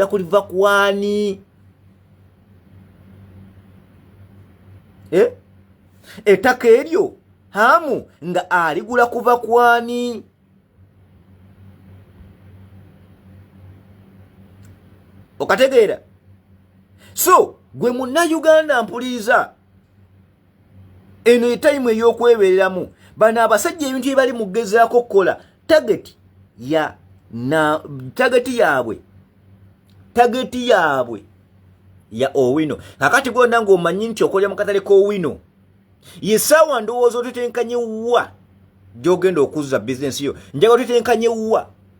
dakku liva kuwaani eh? ettaka eryo hamu nga aligula kuva kwani okategeera so gwe munnayuganda mpuliriza eno etayimu ey'okwebeereramu bano abasajja ebintu byebali mugezaako okukola tageti ya na tageti yaabwe tageti yaabwe ya owino kakati gwona ngaomanyi nti okolera mu katale k'owino yesaawa ndowooza otutenkanye wa gyogenda okuzza bizinesi yo njaga otutenkanye wa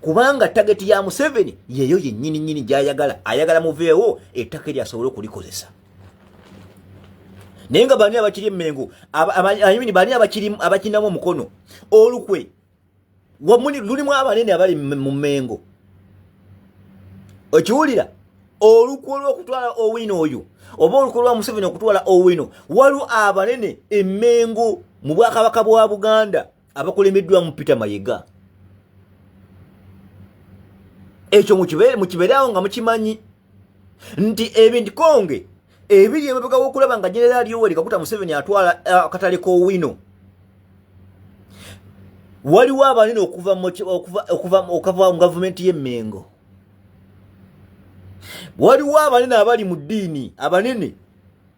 kubanga tageti ya museveni yeyo yenyini nyini gyayagala ayagala muveewo ettaka eryo asobole okulikozesa naye nga bani abakiri emengo ayini bani abakirinamu omukono olukwe lulimu abanene abali mu mengo okiwulira olukwe olwokutwala owino oyo oba olukwe lwa museveni okutwala owino waliwo abanene emengo mu bwakabaka bwa buganda abakulembeddwamu peter mayega ekyo mukibeerawo nga mukimanyi nti ebindikonge ebiri emabega wokulaba nga generaali yoweri kakuta museveni atwala eh, akatale kowino waliwo abanene okuva mu gavumenti y'emmengo waliwo abanene abali mu ddiini abanene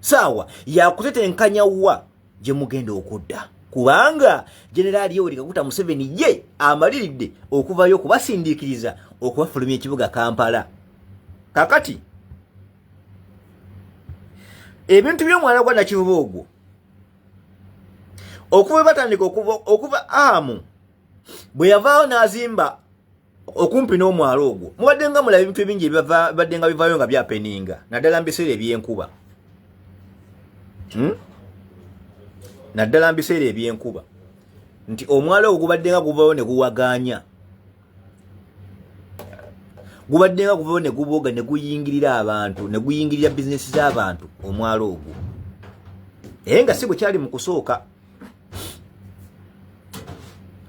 saawa yakutetenkanya wa gye mugenda okudda kubanga generaali yoweri kaguta museveni ye amaliridde okuvayo okubasindiikiriza okubafulumya ekibuga kampala kakati ebintu by'omwana gwa nakivuba ogwo okuva batandika okuva okuva amu bwe yavaawo n'azimba okumpi n'omwalo ogwo mubadde nga mulaba ebintu ebingi ebibadde nga bivaayo nga byapeninga naddala mubiseera ebyenkuba hmm? naddala mubiseera ebyenkuba nti omwalo ogwo gubadde nga guvayo ne guwaganya gubadde nga guvayo ne guboga ne guyingirira abantu ne guyingirira bizinesi z'abantu omwalo ogwo naye nga si bwe kyali mu kusooka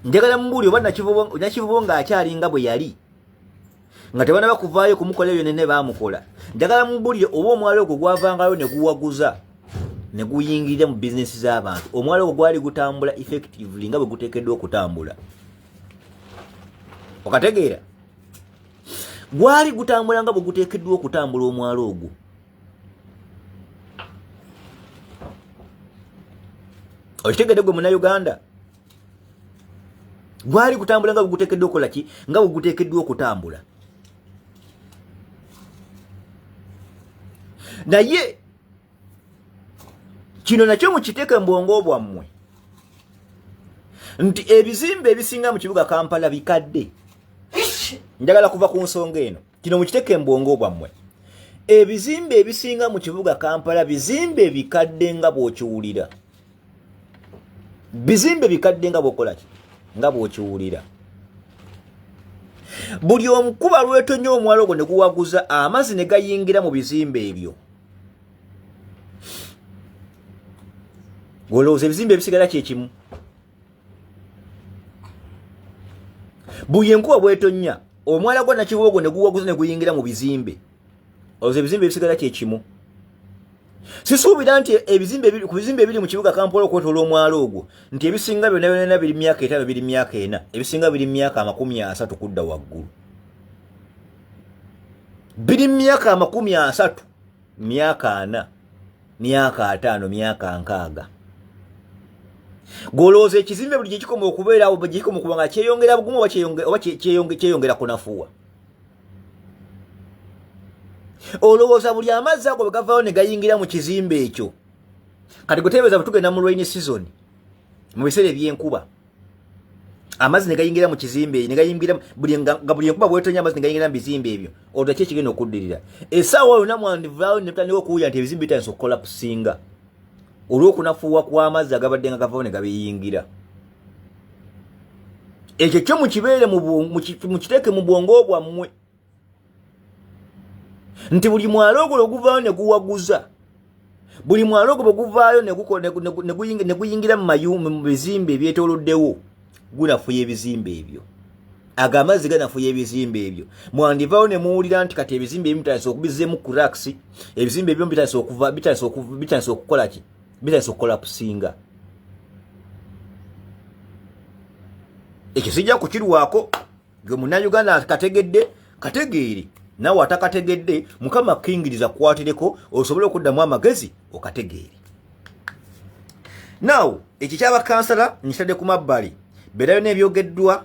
njagala mubuuli oba nakivubo ng'akyalinga bwe yali nga tebana bakuvaayo kumukola ebyo nene baamukola njagala mubulire oba omwala ogwo gwavangayo ne guwaguza ne guyingirira mu bizinesi z'abantu omwala ogwo gwali gutambula effectively nga bwe guteekeddwa okutambula okategeera gwali gutambula nga bwe guteekeddwa okutambula omwala ogwo okitegedde gwe munauganda gwali kutambula nga bwegutekeddwa okukola ki nga bwegutekeddwa okutambula naye kino nakyo mukiteeke mubwongo bwammwe nti ebizimbe ebisinga mu kibuga kampala bikadde njagala kuva ku nsonga eno kino mukiteke mbwongo bwammwe ebizimbe ebisinga mu kibuga kampala bizimbe bikadde nga bwokiwulira bizimbe bikadde nga bwokolaki nga bwokiwulira buli omukuba lwetonya omwala ogwo ne guwaguza amazzi ne gayingira mu bizimbe ebyo olowooza ebizimbe ebisigala kyekimu buye nkuba bwetonya omwala gwa nakibogo ne guwaguza ne guyingira mu bizimbe ozo ebizimbe ebisigala kyekimu sisuubira nti ebizimbe ku bizimbe ebiri mu kibuga kampala okwetoola omwala ogwo nti ebisinga byona byonana biri myaka etaano biri myaka ena ebisinga biri myaka amakumi asatu kudda waggulu biri myaka amakumi asatu myaka ana myaka ataano myaka nkaaga golowooza ekizimbe buli gyekikoma okubeerawo gyekikoma okuba nga kyeyongera bugumu oba kyeyongera kunafuwa olowooza buli amazzi ago bwegavawo ne gayingira mu kizimbe ekyo kati gweteebeeza bwe tugenda mu lwaini sizoni mu biseera ebyenkuba amazi negayingira mu kizimbe ne gayingira buli nga buli enkuba bwetonya amazi negayingira mu bizimbe ebyo olwo ki ekigenda okuddirira esaawa yonna mwandivaawo ne tutandika okuwulira nti ebizimbe bitandisa okukola kusinga olw'okunafuuwa kw'amazzi agabadde nga gavawo ne gabiyingira ekyo kyo mukibeere mukiteeke mu bwongo bwammwe nti buli mwala ogwo lwe guvaayo ne guwaguza buli mwala ogwo bwe guvaayo ne guyingira mu mayumba mu bizimbe ebyetooloddewo gunafuya ebizimbe ebyo ago amazzi ganafuya ebizimbe ebyo mwandivaawo ne muwulira nti kati ebizimbe ebimu bitandisa okubizeemu kuraks ebizimbe ebimu bitandisa okuva bitandisa okukola ki bitandisa okukola kusinga ekyo sijja kukirwako gwe munayuganda kategedde kategeere nawe atakategedde mukama kingiriza kukwatireko osobole okuddamu amagezi okategeere naw ekyo kyabakansala nkitadde ku mabbali berayo nebyogeddwa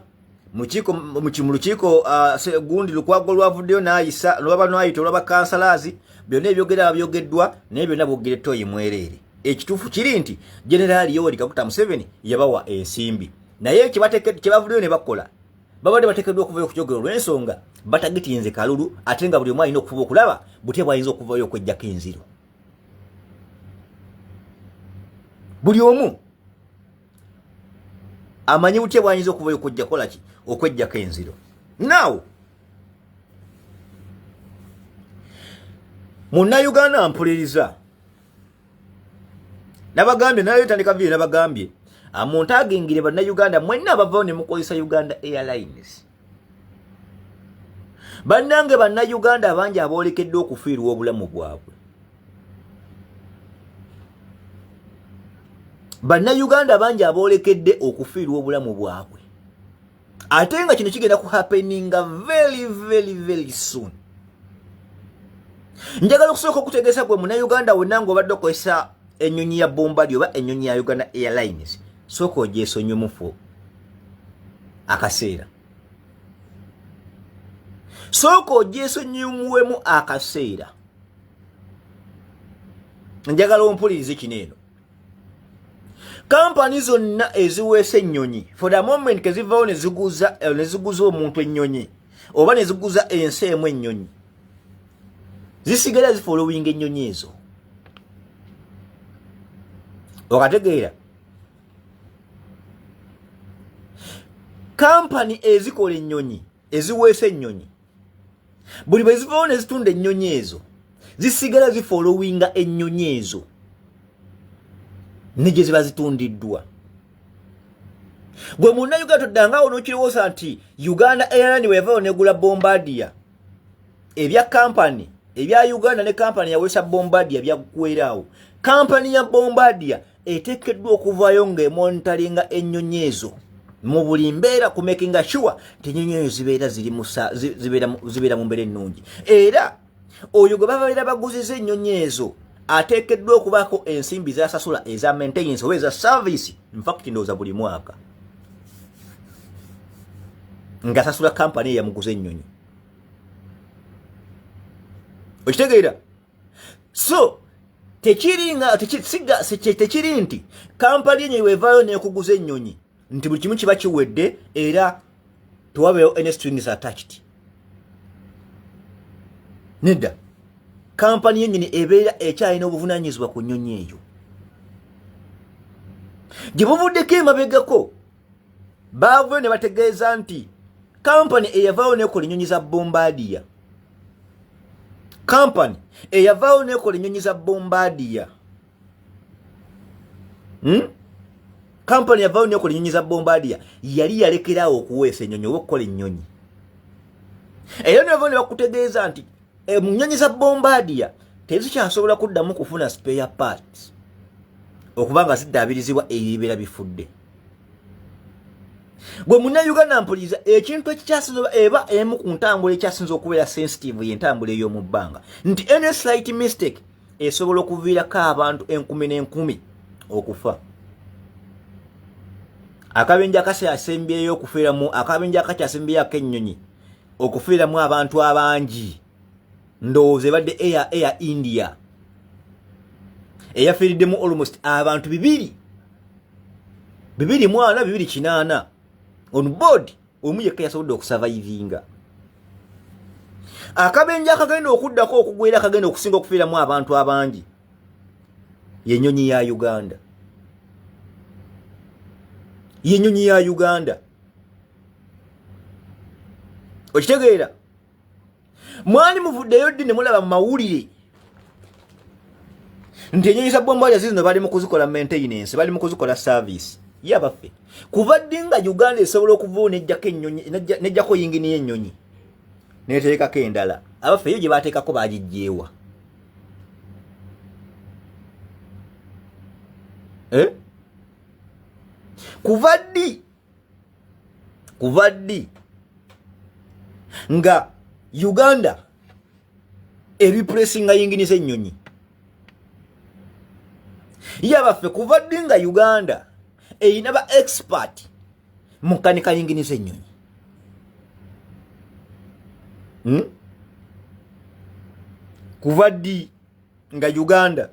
mu lukiiko uh, gundi lukwago olwavuddeyo nayisa lwaba nwayita olwabakansalazi byonna ebyogera byogeddwa naye byonna bwogerettooyi mwereere ekituufu kiri nti generaali yoweri kakuta museveni yabawa ensimbi naye kyebavudeyo ne bakola babadde batekeddwa okuvayo okujogera olw'ensonga batagitinze kalulu ate nga buli omu alina okufuba okulaba butya bwayinza okuvayo okwejjako enziro buli omu amanyi butya bwayinza okuvayo okujja kolaki okwejjako enziro naawo munnayuganda mpuliriza nabagambye nayo tandika video nabagambye amuntu ah, agingire banna uganda mwenna abavawo ne mukozesa uganda airlines bannange banna uganda abangi aboolekeddwa okufiirwa obulamu bwabwe banna uganda bangi aboolekedde okufiirwa obulamu bwabwe ate nga kino kigenda ku happeninga very very very soon njagala okusooka okutegeesa gwe munauganda wonna nga obadde okozesa enyonyi ya bombadi oba enyonyi ya uganda airlines sooka ogyesonyumufu akaseera sooka ogyesonyumuwemu akaseera njagala ompulirize kino eno kampani zonna eziweesa ennyonyi for the moment kezivaawo neziguza eh, neziguza omuntu ennyonyi oba neziguza ensi emu ennyonyi zisigala zifolowinga ennyonyi ezo okategeera kampani ezikola ennyonyi eziweesa ennyonyi buli bwe zivaawo ne zitunda ennyonyi ezo zisigala zifolowinga ennyonyi ezo ne gye ziba zitundiddwa gwe munna uganda toddangaawo n'okirowooza nti uganda airline bwe yavaawo negula bombardiya ebya kampani ebya uganda ne kampani yawesa bombardiya byaggweeraawo kampani ya bombardiya eteekeddwa okuvaayo ng'emonitalinga ennyonyi ezo mu buli mbeera ku makinga sure nti ennyonyi eyo zibeera zibeera mu mbeera ennungi era oyo gwe babeera baguziza ennyonyi ezo ateekeddwa okubaako ensimbi zasasula eza maintenance oba eza service infact ndowooza buli mwaka ng'asasula kampani eyamuguza ennyonyi okitegeera so tekiri nga tekisiga tekiri nti kampala yenyi wevayo nekuguza ennyonyi nti buli kimu kiba kiwedde era tewabeewo any strings attached nedda kampani yenyini ebeera ekyalina obuvunanyizibwa ku nnyonyi eyo gye buvuddeko emabegako baavyo ne bategeeza nti kampani eyavaawo nekola ennyonyi za bombadiya kampani eyavaawo nekola ennyonyi za bombadiya hmm? kampani yavaawo nekola ennyonyi za bombadiya yali yalekeraawo okuweesa ennyonyi oba okukola ennyonyi era nevao ne bakutegeeza nti eh, mu nnyonyi za bombadiya tezikyasobola kuddamu kufuna spare parts okuba nga ziddaabirizibwa eyo ebibeera bifudde gwe munnayuganda mpuliriza ekintu ekikyasinza eba emu ku ntambula ekyasinza okubeera sensitive yentambula ey'omu bbanga nti any slight mistake esobola okuviirako abantu enkumi n'enkumi okufa akabenja akasyasembyeyo okufiiramu akabenja akakyasembyeyo ak'ennyonyi okufiiramu abantu abangi ndowooza ebadde air air india eyafiiriddemu almost abantu bibiri bibiri mwana bibiri kinaana on board omu yekka yasobodde okusavaivinga akabenja akagenda okuddako okugwera akagenda okusinga okufiiramu abantu abangi yenyonyi ya uganda yenyonyi ya uganda okitegeera mwali muvuddeyo ddi ne mulaba mu mawulire nti enyonyi za bombali zizino bali mu kuzikola maintenance bali mu kuzikola service ye abaffe kuva ddi nga uganda esobola okuvao nejjako enyonyi nejjako yingini y'enyonyi neteekako endala abaffe eyo gye bateekako bagijjeewa eh? kuva ddi kuva ddi nga uganda ebipulesinga yingini z'ennyonyi yabaffe kuva ddi nga uganda erina ba expert mu kanika yingini z'ennyonyi hmm? kuva ddi nga uganda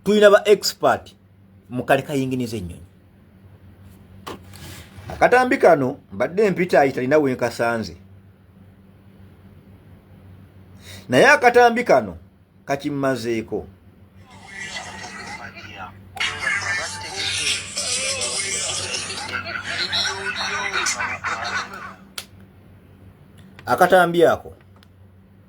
tulina ba expert mukale kayinginiza ennyonyi akatambi kano mbadde empita ayi talina wenkasanze naye akatambi kano kakimmazeeko akatambi ako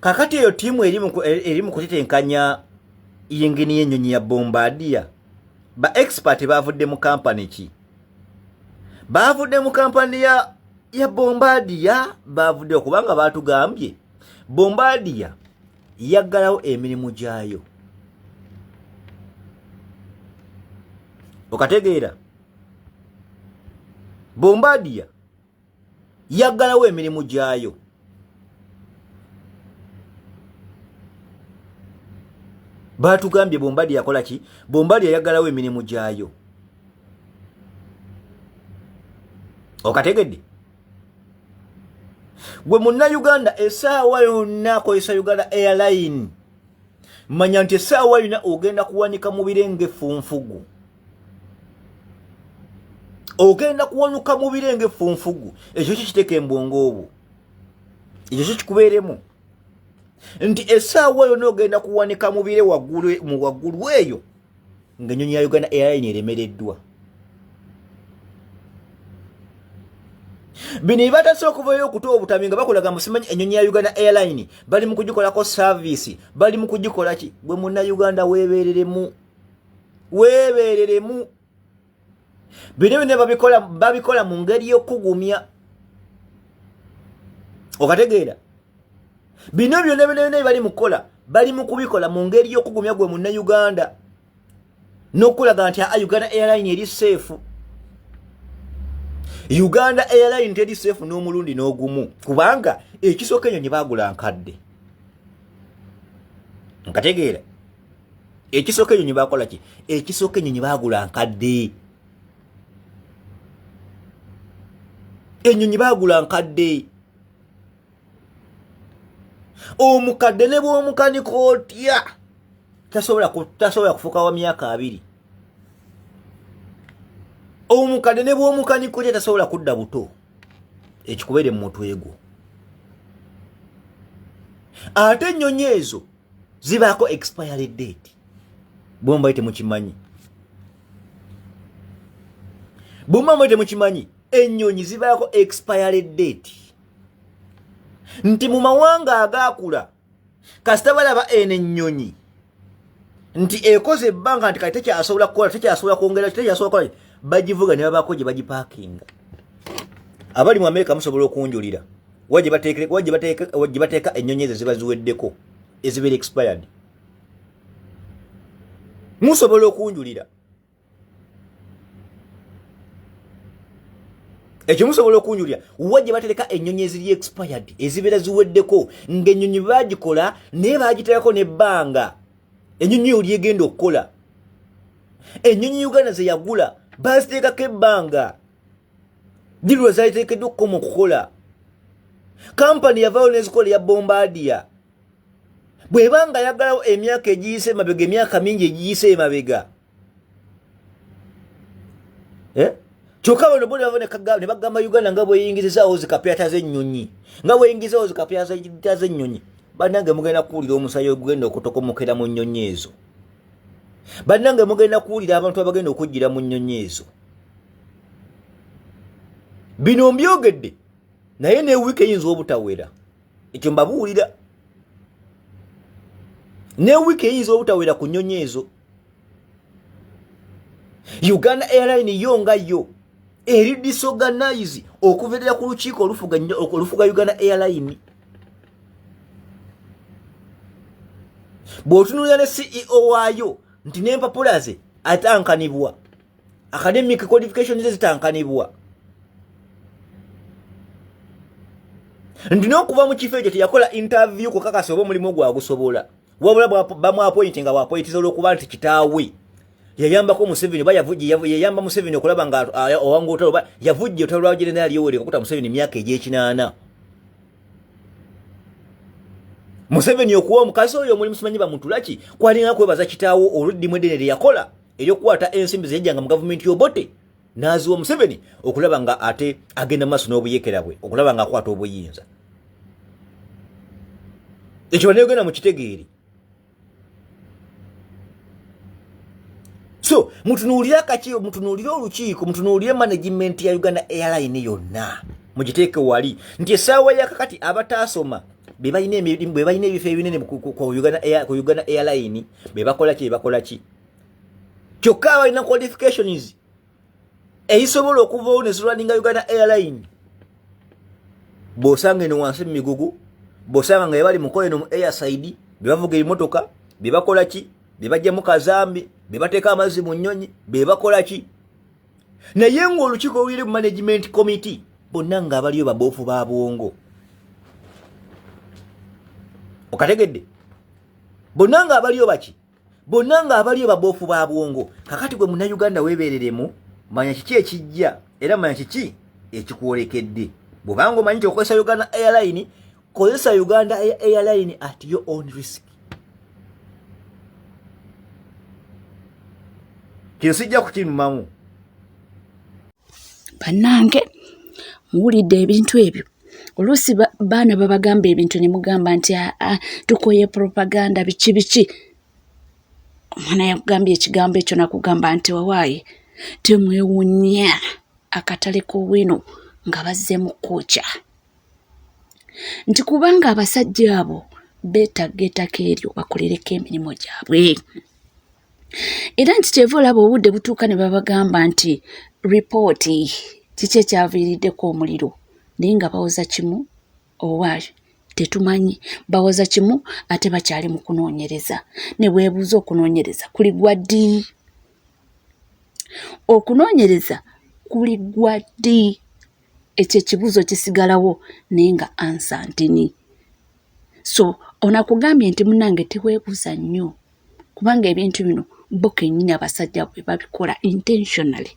kakati eyo tiimu eri mu kutetenkanya yingini y'ennyonyi ya bombadiya ba expert baavudde mu kampani ki baavudde mu kampani ya ya bombadiya baavudde okubanga baatugambye bombadiya yaggalawo emirimu gyayo okategeera bombadiya yaggalawo emirimu gyayo baatugambye bombadi yakola ki bombadi yayaggalawo emirimu gyayo okategedde gwe munnayuganda esaawa yonna akozesa uganda airline manya nti esaawa yona ogenda kuwanika mubire ngaefunfugu ogenda kuwanuka mu bire ngaeffunfugu ekyo ki kiteeka embwongo obwo ekyo ki kikubeeremu nti esaawa yona ogenda kuwanika mu bire mu waggulu eyo ngaenyonyi ya uganda airline eremereddwa bino ebibatase okuvayo okuta obutami nga bakulaga musimanyi enyonyi ya uganda airline bali mu kugikolako saavisi bali mu kugikolaki bwe munna uganda weebereremu weebeereremu bino byonna babikola babikola mu ngeri y'okukugumya okategeera bino byonna byonna byonna bali mu kukola bali mu kubikola mu ngeri y'okugumya gwe munnayuganda n'okulaga nti a uganda airline eri seefu uganda airline teri seefu n'omulundi n'ogumu kubanga ekisooka enyo nye baagula nkadde nkategeera ekisooka enyonyi bakola ki ekisooka enyonyi bagula nkadde enyonyi bagula nkadde omukadde ne bwomukanika otya tasobola kufuka wa myaka abiri omukadde ne bwomukanika otya tasobola kudda buto ekikubeere mu mutwe gwo ate ennyonyi ezo zibaako expiry date bwemubali temukimanyi bwemuma mubali temukimanyi ennyonyi zibaako expiry date nti mu mawanga agaakula kasita balaba eno ennyonyi nti ekoze ebbanga nti kati tekyasobola kukola tekyasobola kwongera tekyasobola kukola bagivuga ne babaako gye bagipaakinga abali mu amerika musobola okunjulira wa gye bateeka ennyonyi ezo ziba ziweddeko ezibeera expired musobola okunjulira ekyo musobola okunjulira wa gye batereka ennyonyi eziri expired ezibeera ziweddeko ng'ennyonyi baagikola naye baagiteekako n'ebbanga ennyonyi eyo lyegenda okukola ennyonyi uganda ze yagula baaziteekako ebbanga dilwa zaiteekeddwa okukoma okukola kampani yavaayo nezikola eya bombadiya bweba nga yagalawo emyaka egiyise emabega emyaka mingi egiyise emabega eh? kyokka bano buli bava ne bagamba uganda nga bweyingizizaawo zikapyata z'ennyonyi nga bweyingizaawo zikapyata z'ennyonyi banange mugenda kuwulira omusayi ogugenda okutokokera mu nnyonyi ezo bannange mugenda kuwulira abantu abagenda okujjira mu nnyonyi ezo bino mbyogedde naye ne wiiki eyinza obutawera ekyo mbabuwulira ne wiiki eyinza obutawera ku nnyonyi ezo uganda airline yo nga yo eri disorganize okuverera ku lukiiko olufuga uganda airline bw'otunulira ne ceo waayo nti n'empapula ze atankanibwa academic qualification ze zitankanibwa nti n'okuva mu kifo ekyo teyakola interview kukakasa oba omulimu gwagusobola wabula bamwapointi nga wapointiza olwokuba nti kitaawe yayambako museveni oba yayamba museveni okulaba nga owanga otalo oba yavujja otalo lwa generali yoweri kakuta museveni emyaka egyekinaana museveni okuwa omukazi oyo omulimu simanyi bamutulaki kwalinga kwebaza kitaawo oluddimu edene lyeyakola eryokukwata ensimbi zeyajjanga mu gavumenti yobote n'aziwa museveni okulaba nga ate agenda maaso n'obuyekera bwe okulaba nga akwata obuyinza ekyo baneyogenda mu kitegeeri so mutunuulire akaki mutunuulire olukiiko mutunuulire management ya uganda airline yonna mugiteeke wali nti essaawa yakakati abataasoma bebalina ebifo ebinene ku uganda airline bebakolaki bebakolaki kyokka abalina qualifications ezisobola okuvawo nezirwaninga uganda airline bwosanga eno wansi mu migugu bwosanga nga yebali mukola eno mu airside bebavuga ebimotoka bebakola ki bebajjamu kazambi bebateeka amazzi mu nnyonyi bebakola ki naye ngaolukiiko oluyire mu management committee bonna nga abaliyo baboofu ba bwongo okategedde bonna nga abaliyo baki bonna nga abaliyo baboofu ba bwongo kakati gwe munayuganda webereremu manya kiki ekijja era manya kiki ekikwolekedde bwobanga omanyi nti okozesa uganda airline kozesa uganda airline at your own risk kino sijja kukinumamu bannange muwulidde ebintu ebyo oluusi baana babagamba ebintu ne mugamba nti aa ah, ah, tukoye propaganda biki biki omwana yakugambye ekigambo ekyo nakugamba nti wawaayi temwewunya akatale k'owino nga bazzeemu kukooca nti kubanga abasajja abo beetagga ettaka eryo bakolereko emirimu gyabwe era nti kyeva olaba obudde butuuka ne babagamba nti ripooti kiki ekyaviiriddeko omuliro naye nga bawoza kimu owa tetumanyi bawoza kimu ate bakyali mu kunoonyereza ne bwebuuza okunoonyereza kuli gwa ddi okunoonyereza kuli gwa ddi ekyo ekibuuzo kisigalawo naye nga ansa ntini so onakugambye nti munange teweebuuza nnyo kubanga ebintu bino bo kenyini abasajja bwe babikola intentionally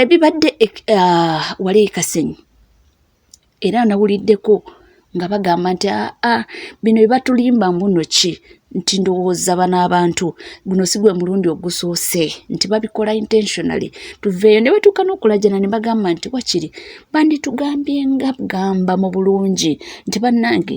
ebibadde uh, wali ekasenyi era nawuliddeko nga bagamba nti aa ah, ah, bino bebatulimba mbuno ki nti ndowooza bano abantu guno si gwe mulundi ogusoose nti babikola intentionally tuveeyo ne batuuka n'okulajana ne bagamba nti wakiri banditugambye nga gamba mu bulungi nti bannange